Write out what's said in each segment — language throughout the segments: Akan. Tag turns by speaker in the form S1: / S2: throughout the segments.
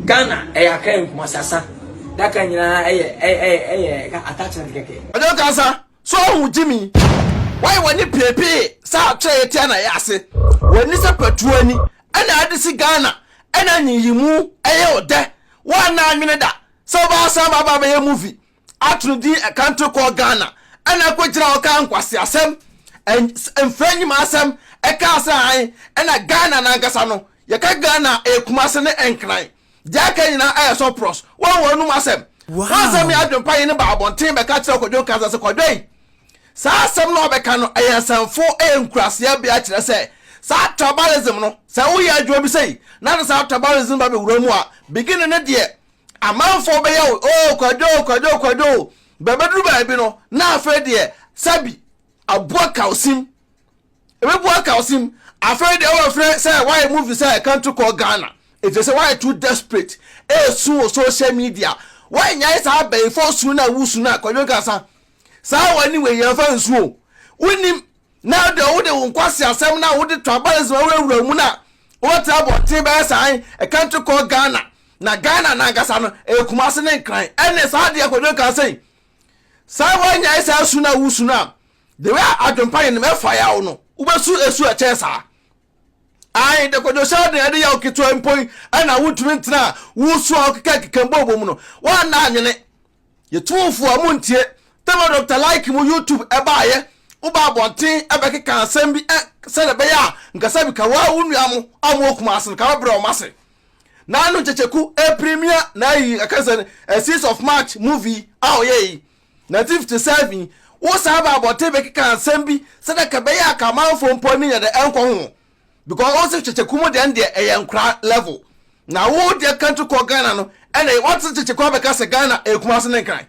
S1: Ghana ɛyɛ Accra and Kumasi asa daka nyinaa ɛyɛ ɛyɛ ɛyɛ ɛka attachment kɛkɛ. Ɔdwo kasa so
S2: ɔhu gyimi. Wayɛ w'ani piepie sɛ akyerɛ yɛ tia na yɛ ase. W'ani sɛ patuo ani ɛna ade si Ghana ɛna nyiyimu ɛyɛ odɛ. Woanna anwene da sɛ wobɛasan aba abɛyɛ movie ato no din ɛkanto kɔɔ Ghana ɛna ɛkɔgyina hɔ kaa nkwaseasɛm, mfra nnwuma asɛm ɛkaa sɛ hann ɛna Ghana no ankasa no yɛka Ghana a ɛyɛ Kumase ne Nkran deɛ aka nyinaa ɛyɛ sɔprɔs wɔn wɔn anom asɛm wɔn asɛm yɛ adwempa yɛn no baa abɔnten bɛka kyerɛ Kwadwo Nkansah sɛ Kwadwo yi saa asɛm no a ɔbɛka no ɛyɛ nsɛmfo ɛyɛ nkuraseɛ bea kyerɛ sɛ saa tribalism no sɛ woyɛ adwuma bi sɛi na de saa tribalism no ba bɛwura mu a beginning no deɛ Amanfoɔ bɛyɛ wo oo Kwadwo oo Kwadwo oo Kwadwo oo Bɛbɛduru baabi no na afei deɛ sɛbi aboa Kawsim Ɛbɛbua Kawsim Afei deɛ wobɛfrɛ sɛ woayɛ movie sɛ Country Call Ghana Ɛfiri sɛ woayɛ too desperate ɛresu wɔ social media Woannyae saa abayifoɔ su no a wosu no a Kwadwo Nkansah Saa w'ani wei yɛmfa nsu oo Wonnim Na deɛ wode wo nkwaseasɛm no a wode tribalism awurawura mu no a wobɛtena abɔnten bɛyɛ saa he, a country called Ghana. Na Ghana no ankasa no, ɛyɛ Kumase ne Nkran. Ɛnne saa adeɛ Kwadwo kaa sei, sɛ woanyae saa su no a wosu no a, the way a adwempa yenem ɛfa yaw no, wobɛsu esu a ɛkyɛn saa. Ae, de Kwadwo hyɛ aden ɛde yaw ketewa mpo yi, ɛna wontumi ntena a wosu a wokekakeka mbɔɔbɔ mu no, woanna anwene. Yɛtumfoɔ montie Tema Doctor Like mu YouTube ɛbaayɛ Woba abɔnten ɛbɛkeka asɛm bi ɛ sɛdeɛ ɛbɛyɛ a nka sɛ bi ka wo ara wo nua mo a mowɔ Kumasi no ka bɛbrɛ wɔn ase Na no nkyɛkyɛku ɛpremia na ayi ɛka sɛ ɛ six of March movie a ɔyɛɛ yi nineteen fifty seven Wo san ba abɔnten bɛkeka asɛm bi sɛdeɛ ka ɛbɛyɛ a ka amanfoɔ mpo ani nyɛ dɛ ɛnkɔ ho because wɔn sɛ kyekyeko mu deɛ deɛ ɛyɛ nkora level na wo deɛ country kɔ Ghana no ɛna wɔte kyekyeko abɛka sɛ Ghana ɛyɛ Kumasi ne Nkran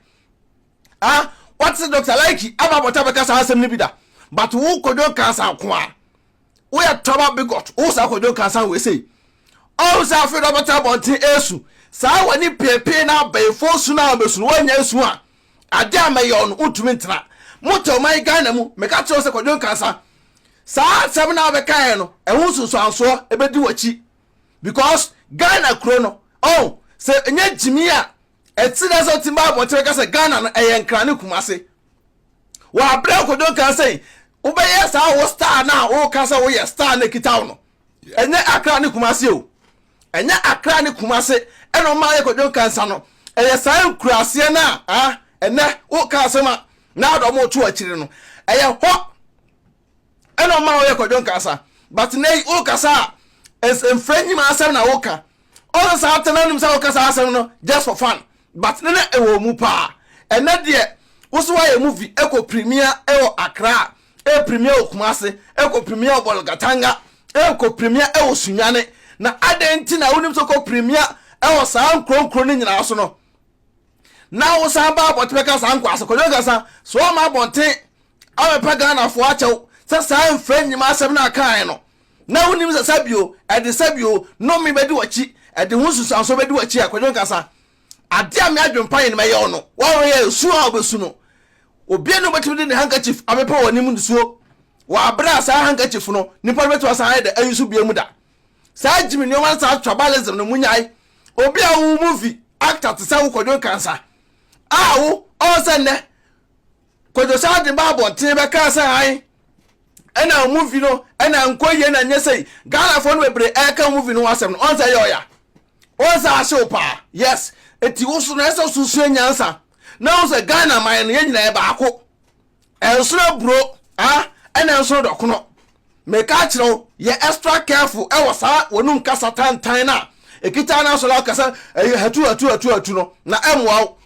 S2: ah wɔte sɛ Dr. Laiki aba abɔta abɛka saa asɛm no bi da but wo kɔdwo nkansa ko a woyɛ traba bigot wo saa kɔdwo nkansa wei sei ɔhu sɛ afei na ɔbɛtena abɔnten ɛsu saa w'ani peepee na abɛɛfoɔ su no a ɔbɛsu no woanya nsu a adeɛ a mɛyɛ no wontumi ntena motɛ ɔman Ghana mu meka kyerɛ wo sɛ kɔdwo nkansa Saa asɛm no a wobɛkaeɛ no ɛho nsunsuansoɔ ɛbɛdi w'akyi because Ghana kuro no ɔho sɛ ɛnyɛ gyimii a ɛte dɛ sɛ wotumi ba abɔnten bɛka sɛ Ghana no ɛyɛ Nkran ne Kumase. Wɔ aberɛ a Kojo nkaa sɛ wobɛyɛ saa wo star no a woka sɛ woyɛ star no ɛkita wo no ɛnyɛ Accra ne Kumase o ɛnyɛ Accra ne Kumase ɛna ɔma yɛ Kojo nkaa nsa no ɛyɛ saa nkuraseɛ no a ɛnɛ woka asɛm a na ade ɔmo to akyire no ɛyɛ hɔ ɛna ɔma ɔyɛ kwadwo nkasa but na yi wokasa a mfrɛ nyima asɛm na woka ɔsɛ saa tena anim sɛ woka saa asɛm no just for fun but ne na ɛwɔ mu paa ɛnɛ deɛ wo so woayɛ movie ɛkɔ premier ɛwɔ akra a ɛyɛ premier wɔ kumase ɛkɔ premier wɔ bɔlgatanga ɛkɔ premier ɛwɔ sunyane na adɛn nti na wonim sɛ kɔ premier ɛwɔ saa nkuronkuro no nyinaa so no na wosan ba abɔnten bɛka saa nkwa asɛm kwadwo ankasa so wɔma abɔnten abɛpɛ ghanafoɔ akyɛw sɛ saa mfra nnwuma asɛm no akae no na wonim sɛ sɛbio ɛde sɛbio nome bɛdi wakyi ɛde ho nsusuanso bɛdi wakyi a kwadwo ankasa ade a meadwempa yɛ no mɛyɛ wo no wɔreyɛ esu a wɔbɛsu no obia ne wobɛtumi de ne handkerchief abɛpɛ wɔ anim nsuo wɔ aberɛ a saa handkerchief no nipa no bɛtumi asan ayɛ dɛ ayi so bia mu da saa Jimmy nneɛma no saa tribalism no munyae obi a wo movie actor te sɛ wo kwadwo kansa a wo ɔwɔ sɛ nnɛ kwadwo saa de ba abɔnten bɛkaa sɛ han ɛna movie no ɛna nkɔ yie na nyɛ sɛ ghanafoɔ no bebree ɛka movie no asɛm no ɔn sɛ ɛyɛ ɔya ɔn sɛ ahyew paa yes eti wo so no ɛsɛ so sua nyansa na wo sɛ ghana man no yɛ nyinaa baako Ɛnsono aburo a ɛna ɛnsono dɔkono. Meka akyerɛ wo yɛ extra careful ɛwɔ saa w'anum kasa tantan no a ɛkita wo no so na wokasa ɛyɛ hatu hatu hatu hatu no na ɛmmoa wo.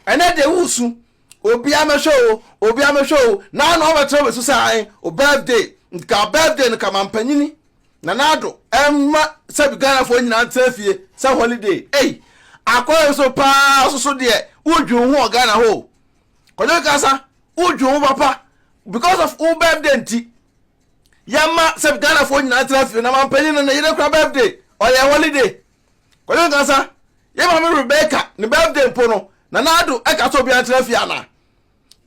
S2: Ɛnɛ deɛ wosu obiara mɛhwɛ o obiara mɛhwɛ o na ano abɛtra wobɛsu sɛ ae o birthday nka birthday no ka mampanyini Nana Addo ɛmma sɛbi Ghanafoɔ nyinaa ntena fie sɛ holiday ei akɔyɛ so paa soso deɛ wodwi wo ho wɔ Ghana hɔ o. kɔdwo kasa wodwo wo papa because of wo birthday nti yɛma sɛ ghanafoɔ nyinaa tra fie na mampanyin no ne yere kora birthday ɔyɛ holiday kɔdwo kasa yɛma me rebecca ne birthday mpo no na naado ɛka sɛ obiara tra fie anaa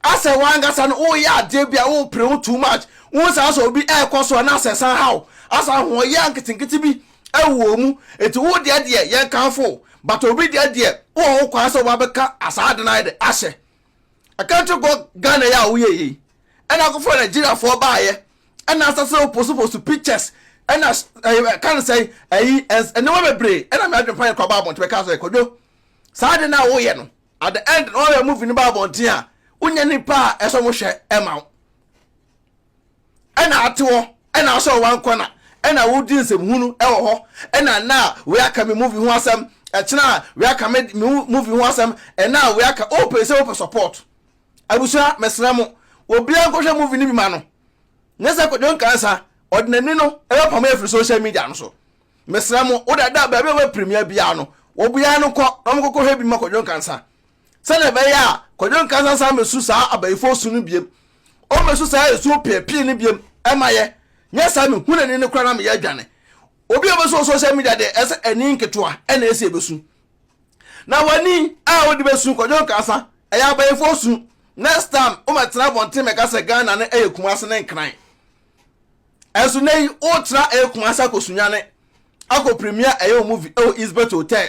S2: asɛ wankasa no woyɛ adeɛ bi a wopere ho too much wo saa sɛ obi ɛrekɔ so a na asɛ san haw asa ahoɔyɛ nketenkete bi ɛwɔ mu eti wo deɛ deɛ yɛn kanfo but obi deɛ deɛ wɔ ho kwan sɛ ɔba bɛka asaa ade n'ayɛ de ahyɛ a country kɔ Ghana yɛ a woyɛ yɛ yi ɛna akɔfra Nigeria foɔ baayɛ ɛna asa sɛ oposu posu pictures ɛna ɛyɛ kan sɛ ɛyi ɛnneɛma bebree ɛna mi adwene pa yɛ kɔ aba abɔnten bɛka sɛ kɔdwo saa ade na woyɛ no at the end na ɔyɛ movie no ba abɔnten a wonya nipa a ɛsɛ ɔmo hwɛ ɛma wo. ɛna ate hɔ ɛna asɔ wɔn ankɔ na ɛna wodi nsɛm hunu ɛwɔ hɔ ɛna na wei aka me movie ho asɛm ɛkyena wei aka me movie ho asɛm ɛna wei aka o pɛ sɛ o pɛ support abusua mɛsena mo obiara nkɔhwɛ movie no bi ma no nyɛ sɛ kɔdwo nkansa ɔde n'ani no ɛbɛ pam afiri social media no so mɛsena mo o dada baabi a wɔbɛ premier biara no wɔbiara no kɔ na wɔn kɔkɔhwɛ bi ma kɔdwo nkansa sɛnea ɛbɛyɛ a Kwadwo Nkansah nsan mmesu saa abayifo osu no biem. Ommesu saa esu opiapii no biem mma yɛ, nyɛ saa a mehu n'ani no koraa na meyɛ adwane. Obi a obesu wɔ social media deɛ, ɛsɛ sɛ ani nketewa na esi ebesu. Na w'ani a wode besu, Kwadwo Nkansah, ɛyɛ abayifo osu. Next time wommɛtena abɔnten mmɛka sɛ Ghana no yɛ Kumasi ne Nkran. Ɛnso nnɛ yi woretra ɛyɛ Kumasi akɔ Sunyani akɔ premiere ɛyɛ wo movie ɛwɔ Eastbet Hotel.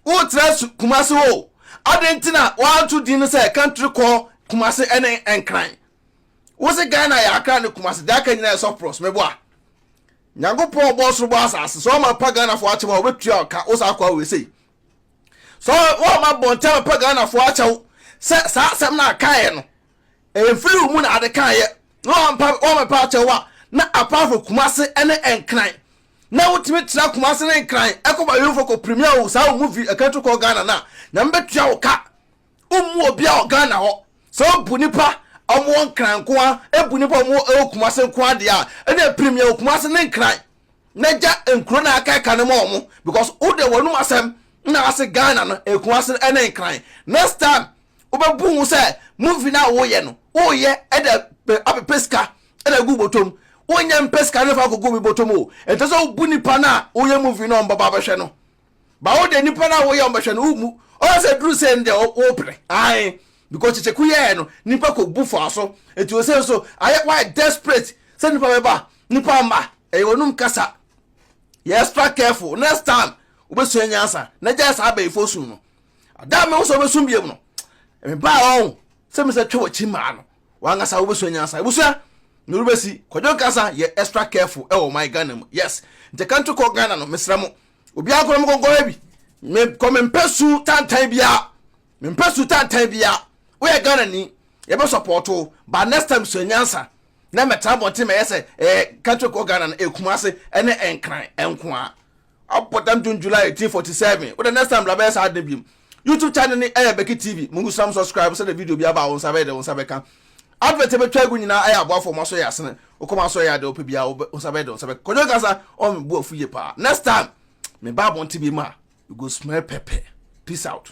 S2: wotra su kumase hɔ o adɛn nti na woanto din no sɛ country kɔ kumase ɛne nkran wo se ghana yɛ akra ne kumase deɛ aka nyinaa yɛ soft pros meboa nyankopɔn ɔbɔ ɔsoro bɔ asase sɛ ɔma pa ghana fo akyɛ ma wɔbɛtua ka wo saa kɔa wei sei sɛ ɔma bɔntɛm pa ghana fo akyɛ wo sɛ saa asɛm no akaeɛ no ɛmfiri wo mu na ade kaeɛ na wɔmpa wɔmɛpa akyɛ wo a na apart from kumase ɛne nkran na wotumi tra Kumase ne Nkran ɛkɔ Bayerufo kɔ premier wo saa wo movie ɛka tu kɔ Ghana no a Nyame bɛtua wo ka wommu obia wɔ Ghana hɔ sɛ wobu nnipa a wɔn wɔ Nkran nkoa ɛbu nnipa a wɔn wɔ ɛwɔ Kumase nkoa deɛ a ɛneɛ premier wo Kumase ne Nkran na gya nkuro na aka ɛka no ma wɔn because wo deɛ wɔnum asɛm na ase Ghana no ɛyɛ Kumase ɛne Nkran next time wobɛbu ho sɛ movie no a woyɛ no woyɛ ɛde apɛpɛ sika ɛna gu botom wonyɛ mpɛ sika no fa kogu me botom o ɛntɛ sɛ wobu nipa no a woyɛ movie no ɔmbɔba bɛhwɛ no ba wo de nipa no a woyɛ ɔmbɛhwɛ no womu ɔyɛ sɛ duru sɛ ndɛ wopere ae because kyekyeku yɛɛ no nipa kɔ bu faa so eti o sɛ nso ayɛ wayɛ desperate sɛ nipa bɛba nipa mma ɛyɛ wɔnum kasa yɛ extra careful next time wobɛsua nyansa na gyae saa abɛyifoɔ sum no adaa me wo sɛ wobɛsum biam no mebaa ɔn sɛ mesɛ twɛ wakyi maa no wankasa wobɛsua nyansa abusua na wobɛsi kwadwo nkasa yɛ extra careful ɛwɔ ɔman ghana mu yes nti ka nto kɔ ghana no mesrɛ mo obiara kora mokɔnkɔhɛ bi mekɔ mempɛ su tantan biara mempɛ su tantan biara woyɛ ghana ni yɛbɛ sɔpɔɔto ba next time sua nyansa na mɛtra bɔnten mɛyɛ sɛ ɛyɛ country kɔ ghana no ɛkuma ase ɛne ɛnkran ɛnko a Abɔ dam June July eighteen forty seven wodɛ next time bra bɛyɛ saa ade biom YouTube channel ne ɛyɛ Becky TV mungu sram subscribe sɛdɛ video bi aba a wo nsa bɛyɛ dɛ wo nsa bɛka Advert ɛbɛtwa agu nyinaa ɛyɛ aboafo wɔn asɔ yɛ asene wo kɔm asɔ yɛ ade wopɛ biara wo nsa bɛyɛ dɛ wo nsa bɛka Kwadwo Nkasa ɔma me bo afu yie paa next time me ba abɔnten biom a you go smell pɛpɛ peace out.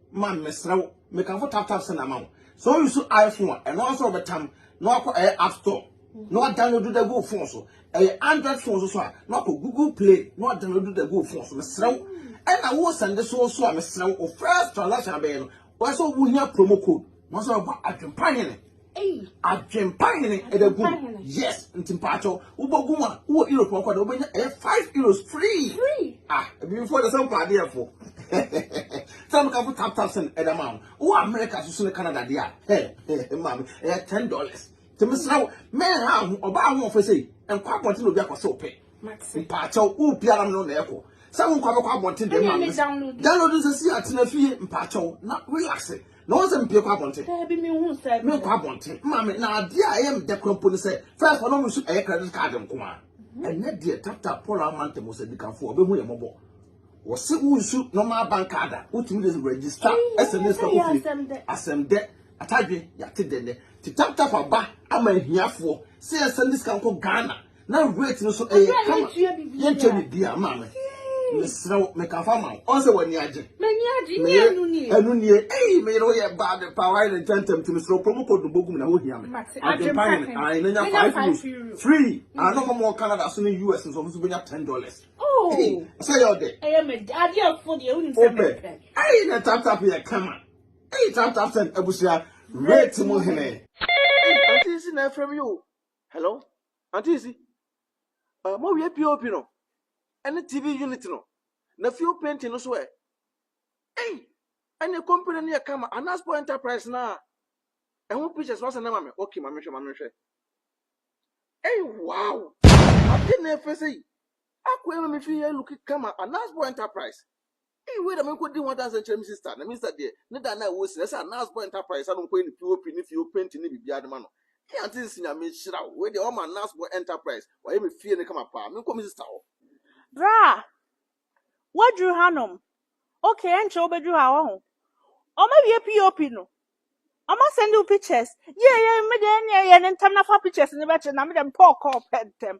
S2: man mesrɛ wo mekamfo tap tap sɛ na ma wo sɛ o use iphone a ɛno nso ɔbɛtam na wakɔ ɛyɛ app store na wadownload da gu phone so ɛyɛ android phone so so a na wakɔ google play na wadownload da gu phone so mesrɛ wo ɛna wo sɛnde so so a mesrɛ wo first transaction abɛyɛ no wɔsɛ wo hia promo code na wɔsɛ wɔbɔ adwempa hene Adwempa hene ɛbɛ gu yes nti mpaatɔ wobɔ gu a wowɔ europe ɔkɔ de wobɛnya ɛyɛ five euros free ah ebibifo de sɛ mpɛ adeɛ fo sɛ mo kafo tap tap sɛn ɛda ma wo wowɔ america soso ne canada deɛ a hɛ maame ɛyɛ ten dollars te mesra wo mɛn ha ho ɔbaa ho ɔfɛ sɛ nkɔ abɔnten na obi akɔ sɛ ɔpɛ mpaatɔ wo biara no na ɛkɔ sɛ wo nkɔ abɛkɔ abɔnten deɛ maame download nsɛ si atena fie mpaatɔ na relax na wɔn sɛ mpie kɔ abɔnten. Daabi mi hu sɛ. Mi kɔ abɔnten maame na adeɛ a ɛyɛ mi dɛ kura mpo ni sɛ fɛs wɔn mu su ɛyɛ credit card nko a mhm. ɛnɛ deɛ tata paul amante mo sɛ dikanfo ɔbɛ hu yɛ mɔbɔ wɔsi wusu normal bank card a wotumi de register ɛsɛ ne sika kɔ fie asɛm dɛ atadwe yate dɛ nɛ ti tap tap aba ama ahiafoɔ sɛ ɛsɛ ne sika nkɔ ghana na weight no so ɛyɛ kama yɛnkyɛ ne bia maa me mesrɛ wo meka fa ma wo ɔn sɛ w'ani agye meyɛ ɛno nie ei meyere wo yɛ baa de paa wayɛ ne ntɛntɛm ti mesrɛ wo kɔmu kɔdu bɔgum na wohia me adwempa yɛ ne ae na nya 5 euro free ano hɔ mɔ canada so ne us nso ɔmo so bɛnya 10 dollars oh. sɛ yɛ ɔdɛ wopɛ ei na taptap yɛ kama ei taptap sɛn abusua rate mu hene ante si na afrɛ me o Hello auntie isi uh, mo wie pop no ɛne tv unit no na fuel painting no so ɛ ɛy ɛne company no yɛ kama anasport enterprise na ɛho pictures wasa na ma me okay ma mehwɛ ma mehwɛ ɛy wow ade na ɛfɛ sɛ yi akɔ ɛma me fi yɛ look kama anasport enterprise Ei wei na merekɔdi ho adanseɛ nkyerɛ me sista, na me sista deɛ ne da no a ɛwɔ si no ɛsɛ a Nas Boy Enterprise a na ɔkɔyɛ ne POP ne fie ɔpenti ne biribiara de ma no. Ei Antis Nyame nhyira wo, wei deɛ ɔma Nas Boy Enterprise wayɛ me fie no kama paa, menkɔ me sista hɔ. Bra!
S3: Woaduru hanom? Ok, ɛnkyɛ wobɛduru ha, wahu. Wɔawie POP no? Wɔasɛnde wo pictures? Yei yei, me deɛ ɛnneɛ yɛ no ntɛm na fa pictures no bɛkyerɛ na me deɛ mepɛ ɔkɔɔ pɛ ntɛm.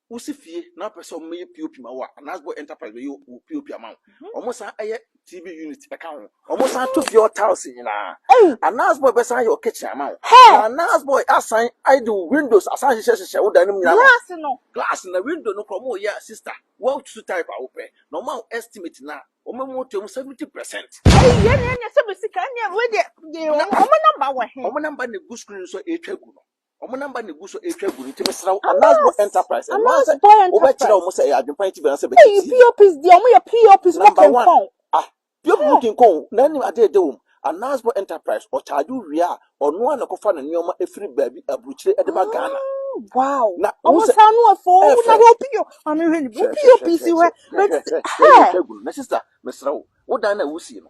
S2: Wosi fie na wopɛ sɛ wɔyɛ POP ma wo a, Anasbo Enterprise bɛyɛ wo POP ama wo. Mhm. Wɔsan yɛ TV unit ka ho. Wɔsan to fie hɔ tiles nyinaa. Ei! Anasbo bɛsan yɛ wo kitchen ama wo. Hɛ! Na Anasbo asan de wo windows asan hyehyɛ hyehyɛ wo dan no mu nyinaa. Glass no. Glass na window no kora wɔyɛ a sister, woatutu type a wopɛ. Na wɔma wo estimate no a, wɔma mu to mu 70%. Ei, yɛn na yɛnyɛ
S3: sɛ bɛ sika, ɛnneɛ wei deɛ, yɛ wɔn, wɔn number wɔ he? Wɔn number na egu screen
S2: so a ɛretwa gu no. Wɔn namba na egu so retwa agu no nti mesrɛ wo Anas Boy Enterprise ɛno ara sɛ wobɛkyerɛ wɔn sɛ ɛyɛ adwempa nti bɛn sɛ bɛte tii. Ɛyi POPs deɛ wɔn yɛ
S3: POPs mo kenkɔn. Ah
S2: POP mo kenkɔn o na ɛnim adeɛ ɛdɛ wɔm. Anas Boy Enterprise ɔcharge wo wie a ɔno ara na ɛkɔfa ne nneɛma ɛfiri baabi aburukyire ɛde ba Ghana. Wow na
S3: wɔn sɛ ɛyɛ fɛ. Maame hwɛ ni POPs hwɛ hwɛ hwɛ hwɛ ɛretwa agu
S2: no na sister mesrɛ wo wo dan no a wosi no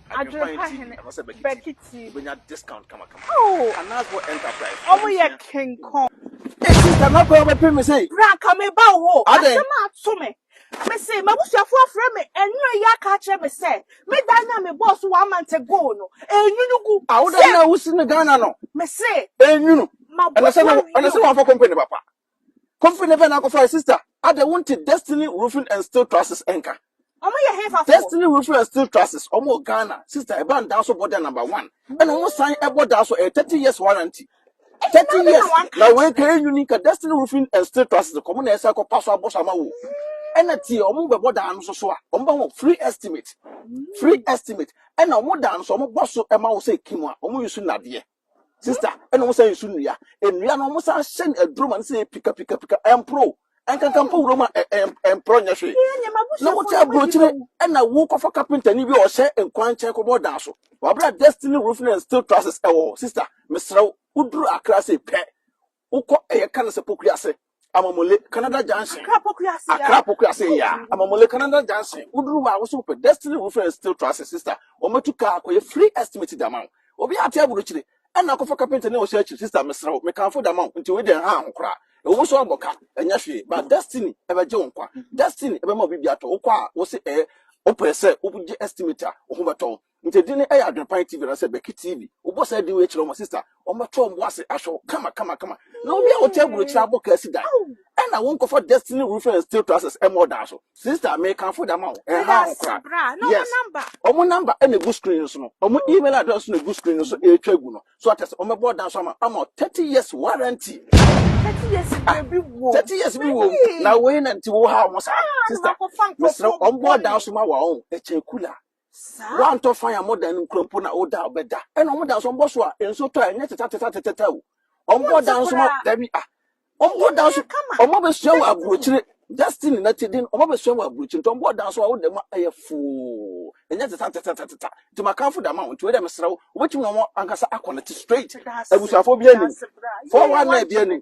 S2: Adwerepa hene Bakiti.
S3: Oh, ọmụ yɛ kenkɔn. Kama
S2: kɔ ọmụ pere mi sɛ. Bra nka mi ba wo.
S3: Asɛm a ato me. Me se m'abusuafo afrɛ me ɛnura yi aka akyerɛ me sɛ me dan na me bɔɔ so one month ago no enyunu gu. Awo dan na wosi
S2: no Ghana no. Me se.
S3: Enyunu.
S2: Ɛna sɛ na sɛ wɔn afɔ company papa. Kofi ne Vena akɔfa sister. Ada wonte Destiny Roofing and Steel Trusses nka. Ɔmo yɛ hefa
S3: fo. Destiny Roofing and Steel
S2: Trusses ɔmo wɔ Ghana. Sister ɛba no daa so bɔ da number one. Ɛna ɔmo san ɛbɔ daa so ɛyɛ thirty years warranty. Thirty years na wei ka enyuni ka Destiny Roofing and Steel Trusses kɔ ɔmo na ɛsɛ kɔ pa so abɔ so ama wo. Ɛna tie ɔmo bɛbɔ daa no so so a ɔmo bɛ ho free estimate. Free estimate. Ɛna ɔmo daa no so ɔmo bɔ so ɛma wo sɛ kim a ɔmo yi so nadeɛ. Sister, ɛna wɔn san nsu nnua. Nnua no wɔn san hyɛ no aduro ma no sɛ pika pika pika ɛmporo. Ɛnkankan mpo wuram a ɛmporo nyɛ hwee. Na wote aburokyire ɛna wokɔfa kapentani bi a ɔhyɛ nkwan nkyɛn kɔbɔ dan so. Wabra destiny roofing and steel trusses ɛwɔ hɔ. Sister, mesrɛ wo, woduru Accra sei pɛ, Wokɔ ɛyɛ ka no sɛ Poku ase, Amamule, Canada Junction. Accra Poku ase ya. Accra Poku ase ya, Amamule, Canada Junction. Woduru hɔ a, wosɛ wopɛ Destiny Roofing and Steel Trusses, sister, wɔatu kaa akɔyɛ free estimate de ama wo. Obi ate aburukyire, ɛnna akɔfa kapentani a ɔhyɛ akyiri, sister, mesrɛ wo, mekamfo de ama wo, nti wei deɛ nhaa ho koraa. Ɛwɔ mu sɛ woabɔ ka, ɛnyɛ hwee, but Destiny bɛgye wo nkwa. Destiny bɛma wo biribi atɔ. Wokɔ a, wose ɛɛ, wopɛ sɛ wogye estimate a, wo ho bɛtɔ wo. Nti edin no yɛ Adwenpan TV anaasɛ Bɛki TV. Wobɔ saa din wei kyerɛ wɔn a, sista, wɔbɛto wɔn bo ase ahwɛ wo kama kama kama. Na obi a ɔte aburokyiri abɔ kaa si dan, ɛna wonkɔfa Destiny Roofing and Steel Trusses mmɔ ɔdan so. Sista, mekamfo de ama wo, ɛnhaw ho koraa. Yes,
S3: wɔn number
S2: na egu screen no so no, wɔn email address nso na egu screen no so ɛretwa agu no. So ate ase, wɔbɛbɔ ɔdan so ama ama wo 30 years warranty.
S3: Thirty years Ah, biribi wɔ. 30 years bi wɔ mu.
S2: Na wei na nti wohaw ho saa. Sista, mesrɛ wo, wɔbɔ ɔdan so ma wo a, ɔn, ɛkyɛn cooler. Saa. Wɔntɔ fan a moda no nkura mpo na woda a bɛda. Ɛna wɔn da nso wɔbɔ so a nso tɔ a ɛnyɛ tetatatetata o. Wɔbɔ da nso ma dabi a. Wɔbɔ da nso wɔn abɛsua wɔ aburokyire destiny na ti den wɔn abɛsua wɔ aburokyire nti wɔbɔ da nso a woda mu ɛyɛ foo ɛnyɛ tetatatetata nti makanfo da ma wɔn nti wei dɛ mesrɛ wo wobɛtumi na wɔn ankasa akɔ ne te straight abusuafo bi anim fɔwa na ebi anim.